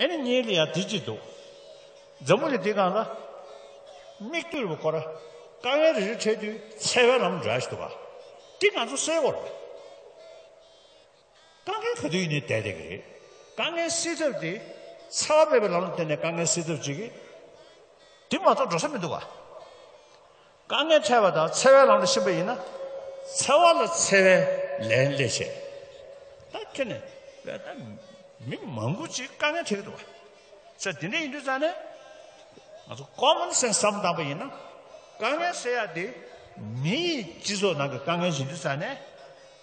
ཨེ་ནི་གཉིས་ལ་ཡང་དེ་གཅིག་འདུག། འཛམ་བུ་གླིང་འདི་གང་ལ། མིག་ལྟོས་བུ་འཁོར། དཀའ་ངལ་རེ་རེ་འཕྲད་དུས་འཚེ་བའི་ལམ་འདྲ་ཞིག་འདུག་ག། འདི་ང་ཚོ་སེལ་བར། དཀའ་ངལ་ག་དུས་ཡིན་ནའི་དལ་དལ་གྱི་རེད། དཀའ་ངལ་སེལ་ཐབས་དེ། འཚེ་བ་མེད་པའི་ལམ་ལ་བརྟེན་ནས་དཀའ་ངལ་སེལ་ཐབས་བྱེད། དེ་མ་གཏོགས་འགྲོ་ས་མི་འདུག་ག། དཀའ་ངལ་འཕྲད་པ་དང་འཚེ་བའི་ལམ་དུ་ཕྱིན་པ་ཡིན་ན། འཚེ་བ་ལ་འཚེ་བའི་ལན་སླེབས་ཆེད་ད་ཁྱོད་ནས་བལྟས་ན་མི་མང་པོ་ཅིག་དཀའ་ངལ་འཕྲད་ཀྱི་འདུག་བ། ཚེ་འདི་འདྲ་ཡིན་དུས་ཙང་ནས་ང་ཚོ common sense བསམ་བཏང་པ་ཡིན་ན། དཀའ་ངལ་སེལ་ཡག་དེ་མི་ཡི་སྤྱི་ཚོགས་ནང་གི་དཀའ་ངལ་ཡིན་དུས་ཙང་ནས་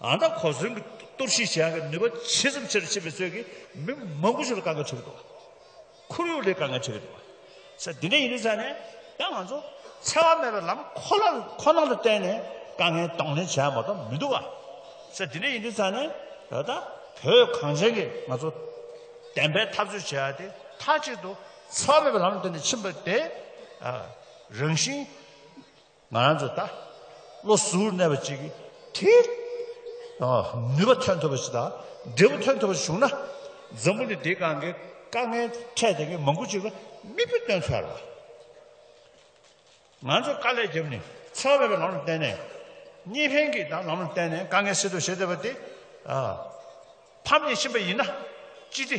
ཨ་མདོ་གོ་ཟོན་གྱི་གཏོར་བཤིག་བྱེད་ཡག་གི་ནུས་པ་ཇི་ཙམ་ཆེ་རུ་ཕྱིན་པའི་ཚོད་ཀྱིས་མི་མང་པོ་ཞིག་ལ་དཀའ་ངལ་འཕྲད་གི་འདུག་ཁོར་ཡུག་ལས་དཀའ་ངལ་འཕྲད་གི་འདུག་ས་འདི་འདྲ་ཡིན་དུས་ས་ནས་ཡང་ང་ཚོ་འཚེ་བ་མེད་པའི་ལམ་ཁོ་ལ་ཁོ་ན་ལ་བརྟེན་ནས་དཀའ་ངལ་གདོང་ལེན་བྱེད་ཡག་མ་གཏོགས་མི་འདུག་ག་ས་འདི་འདྲ་ཡིན་དུས་ས་ནས་ད་ལྟ་བོད་གངས་ཅན་གྱི་ང་ཚོ་བདེན་པའི་འཐབ་རྩོད་བྱེད་ཡག་དེ་མཐའ་གཅིག་ཏུ་འཚེ་བ་མེད་པའི་ལམ་ལ་བརྟེན་ནས་ཕྱིན་པ་དེ་རང་བཞིན། ང་རང་ཚོ་ད་བློ་གཟུར་གནས་པ་ཅིག་གིས་དེའི་ནུས་པ་ཐོན་ཐུབ་པ་ཞིག་དང་འབྲས་བུ་ཐོན་ཐུབ་པ་ཞིག་བྱུང་ན་འཛམ་བུ་ནི་འདིའི་སྒང་གི་དཀའ་ངལ་འཕྲད་ཟིན་མཁན་མང་པོ་ཞིག་ལ་མིག་དཔེ་སྟོན་ཐུབ་ཡ་རེད། ང་ཚོས་དཀའ་ལས་བརྒྱབ་ནས་ཚོར་བ་བའི་ལམ་ལ་བརྟེན་ནས་གཉིས་ཕན་གྱི་ལམ་ལ་བརྟེན་ནས་དཀའ་ངལ་སེལ་ཐུབ་བྱེད་ཐུབ་པ་དེ་ཕམ་ཉེས་ཕྱིན་པ་ཡིན་ན་ཅི་སྟེ